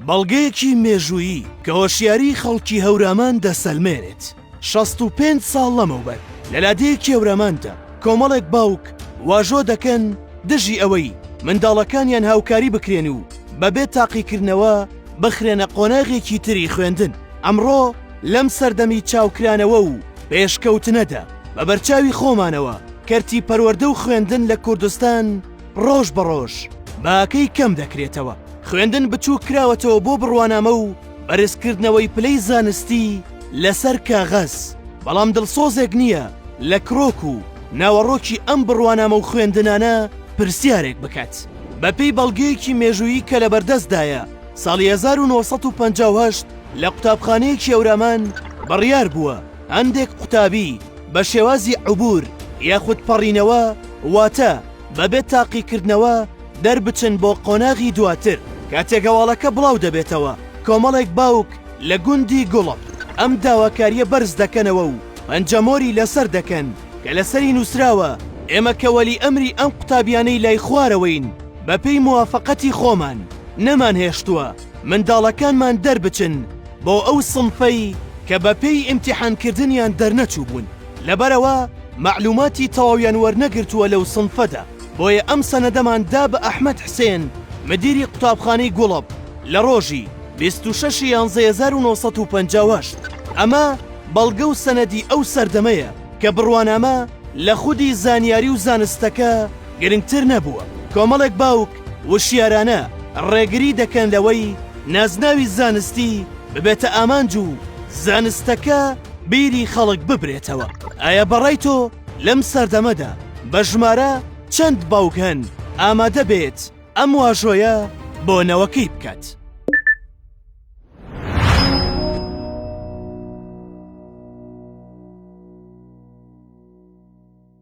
بەڵگەیەکی مێژوویی کە هۆشیاریی خەڵکی هەورامان دەسەلمێنێت، شەست و پێنج ساڵ لەمەوبەر لە لادێی کێوراماندا کۆمەڵێک باوک واژۆ دەکەن دژی ئەوەی منداڵەکانیان هاوکاری بکرێن و بەبێ تاقیکردنەوە بخرێنە قۆناغێکی تری خوێندن. ئەمڕۆ لەم سەردەمی چاوکرانەوە و پێشکەوتنەدا، بە بەرچاوی خۆمانەوە کەرتی پەروەردە و خوێندن لە کوردستان، ڕۆژ بە ڕۆژ باکەی کەم دەکرێتەوە. خوێندن بچووک کراوەتەوە بۆ بڕوانامە و بەرزکردنەوەی پلەی زانستی لەسەر کاغەز، بەڵام دڵسۆزێک نییە لە کرۆک و ناوەڕۆکی ئەم بڕوانامە و خوێندنانە پرسیارێک بکات. بەپێی بەڵگەیەکی مێژوویی کە لەبەردەستدایە، ساڵی هەزار و نۆ سەد و پەنجا و هەشت لە قوتابخانەیەکی ئەورامان بڕیار بووە، هەندێک قوتابی بە شێوازی عبور یاخود پەڕینەوە واتە بەبێ تاقیکردنەوە دەربچن بۆ قۆناغی دواتر، کاتێک هەواڵەکە بڵاو دەبێتەوە کۆمەڵێک باوک لە گوندی گوڵڵ ئەم داواکارییە بەرز دەکەنەوە و پەنجەمۆری لەسەر دەکەن کە لەسەری نووسراوە ئێمە کە وەلی ئەمری ئەم قوتابیانەی لای خوارەوەین بەپێی موافەقەتی خۆمان نەمانهێشتووە منداڵەکانمان دەربچن بۆ ئەو سنفەی کە بە پێی ئیمتیحان کردنیان دەرنەچووبوون لەبەرئەوە مەعلوماتی تەواویان وەرنەگرتووە لەو سنفەدا بۆیە ئەم سەنەدەمان دا بە ئەحمەد حسێن مدیری قوتابخانەی گوڵەپ لە ڕۆژی بیست و شەش ی یانزە هەزار و نۆ سەد و پەنجا و هەشت ئەمە بەڵگە و سەنەدی ئەو سەردەمەیە کە بڕوانامە لە خودی زانیاری و زانستەکە گرنگتر نەبووە کۆمەڵێک باوک وشیارانە ڕێگری دەکەن لەوەی نازناوی زانستی ببێتە ئامانج و زانستەکە بیری خەڵک ببرێتەوە ئایا بەڕای تۆ لەم سەردەمەدا بە ژمارە چەند باوک هەن ئامادە بێت ئەم واژۆیە بۆ نەوەکەی بکات؟